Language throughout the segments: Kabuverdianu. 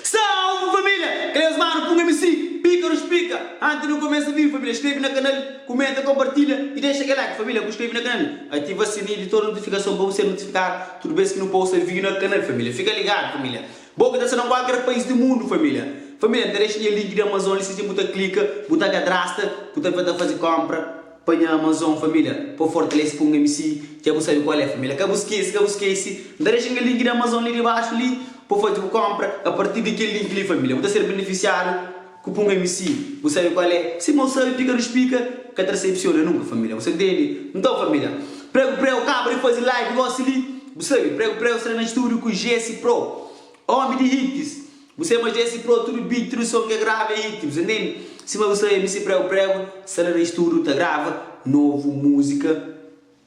Salve família! Kel es mano pun MC Píkaro Splika Anti nu kumesa vive família Skrebe na kanal, kumenta, konpartilha i dexa kel like família Bu skrebe na kanal, ativa sininhu di tudu notifikason pa bu ser notifikadu tudu bes ki nu posta vídiu na kanal família Fika ligadu família Bo ki ta sta na kualker pais di mundu família Família N ta dexa nha link di Amazon li si dja bu ta klika bu ta kadrasta bu ta ben ta faze konpra. Pa nha Amazon família Pô fortalese pa un mc Dja bu sabe kual é família Ka bu skese, ka bu skese N ta dexa nha link di Amazon li dibaxu li Pa bu faze bu konpra A partir di kel link li família Bu ta ser benefisiadu ku pa un mc Bu sabe kual é Si mau sabe pika nu splika Ka ta desepsiona nunka família Bu sa ntende? Nton família Pregu preu kaba di faze live gosi li Bu sabe pregu preu sta na studio ku Jesse Pro Ómi di hits. Bu sai ma jesi pro tudu beat tudu som ke grava é hit bu sa intendi sima bu sai mc prego prego sa la na studio ta grava novo musika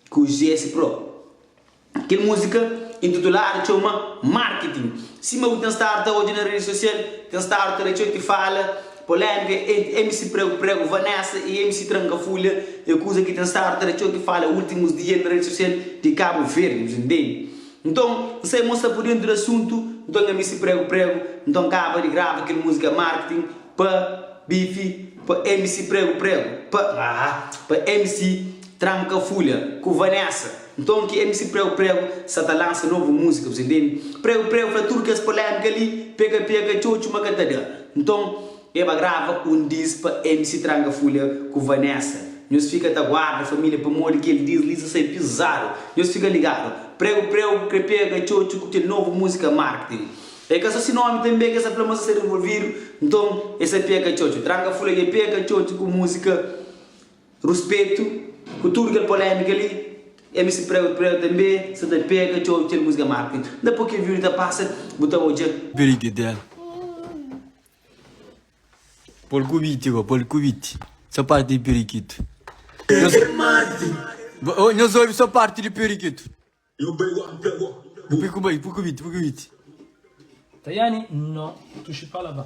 ku jesi pro kel musika intituladu txeu ma marketing sima bu ten stadu ta odja na redi sosial ten stadu ta da txeu ti fala polemika entri mc prego prego vanessa y mc tranka fulha é kuza ki ten stadu ta da txeu ti fala ultimus dia na redi sosial di cabo verde bu sa intendi. Nton N sai mostra pu dentu di asuntu Nton nha misi pregu pregu Nton N kaba di grava kel musika Marketing pa bifi Pa misi pregu pregu Pa haa Pa misi tranka fulha Ku Vanessa Nton ki misi pregu pregu Sa ta lansa novu musika Bu sa intendi Pregu pregu fla tudu kes polemika li Peka peka txotxu ma ka ta da Nton E ba grava un dis pa MC Tranga Fulha ku Vanessa Nhos fika ta guarda família pamodi kel dis li sa sai pizadu Nhos fika ligadu Pregu preu ku kre pega txotxu ku kel novu múzika Marketing e ka so si nómi tanbe ki e sa fla ma sa sai renvolvidu Nton e sa peka txotxu Tranga Fulha dja peka txotxu ku múzika Ruspetu Ku tudu kel polémika li MC Pregu preu tanbe sa ta peka txotxu kel múzika Marketing Nda poi kel vídiu ta pasa bu ta odja. Brigadel. Pol ku biti bo, pol ku biti Só parti di pirikitu Nhos obi só parti di pirikitu Pul ku bai, pul ku biti, pul ku biti Tayane no tuxi pa la ba.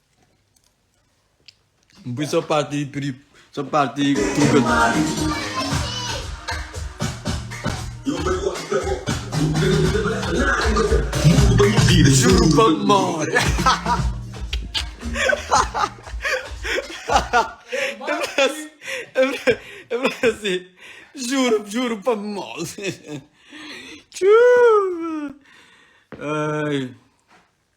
N pui só parti pri só parti truka. Juro pa amor. Eu falei assim, juro, juro pa amor. Tchuu. Ai.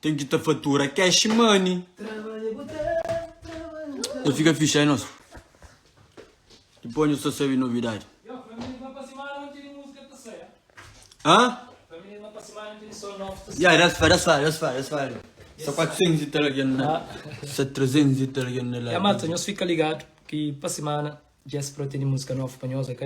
Ten ki ta fatura cash money. Ta fika fixe ai nos. Dipos nho sta sabi novidade. Hã? Yeah, that's fine, that's fine, that's fine, that's fine. Só 400 italiano, né? Só 300 italiano lá. É, malta, nós fica ligado que para semana Dja es pró tene música novo pa nhos ok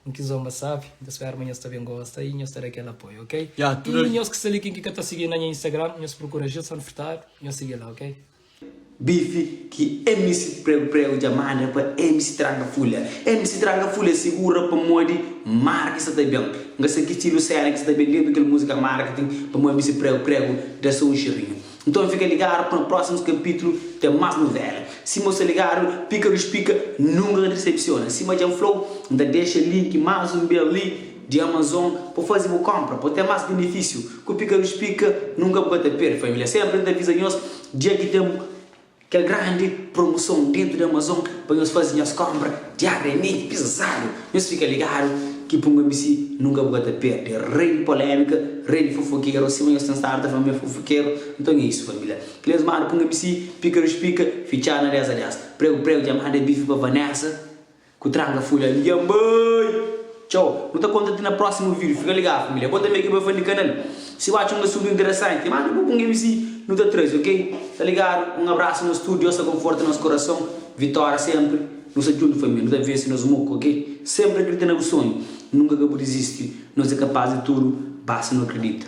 un ki zomba sabe nta spera ma nhos ta ben gosta i nhos ta da kel apoio ok i nhos ki sta li ken ki ka ta sigi na nha instagram nhos prokura Gilson Furtado nhos sigi la ok. Bife ki mc prego prego dja manda pa mc tranka fulha mc tranka fulha segura pamodi marca sa ta ben nga sa ki stilu sena ki sa ta ben depi kel musica marketing pamodi mc prego prego da sa un xirrinhu Nton fika ligadu pa prósimus kapítlu ten más novela. Sima bu sta ligadu, Pika Lus Pika nunka ka disepsiona. Sima dja N fla-u, N ta dexa link más un bês li di Amazon pa bu faze bu kónpra pa bu ten más benefísiu. Ku Pika Lus Pika, nunka bu ka ta perde família. Sénpri N ta aviza nhos dja ki ten. Kel grandi promoson dentu di Amazon pa nhos fazi nhos konpra diariamenti pizadu. Nhos fika ligadu ki pa un amigu si nunka bu ka ta perde. Rei di polemika, rei di fofokeru, sima nhos ten stadu ta fla ma é fofokeru, nton é isu família. Kel es mada pa un amigu si, pika di spika, fitxadu na 10 a 10. Pregu pregu dja manda bife pa Vanessa, Ku tranga folha li nha mãe. Txau, nu ta konta ti na prósimu vídiu, fika ligadu família. Bo tanbe ki bai fandi kanal, si bu atxa un asuntu interesanti, manda bo kunge mi si nu ta trazi ok. Ta ligadu, un abrasu nos tudu, Deus ta konforta nos korason, vitória senpri, nu sta djuntu família, nu ta vensi nos muku ok. Senpri akredita na bu sonhu, nunka ka bu dizisti, nos é kapaz di tudu basta nu akredita.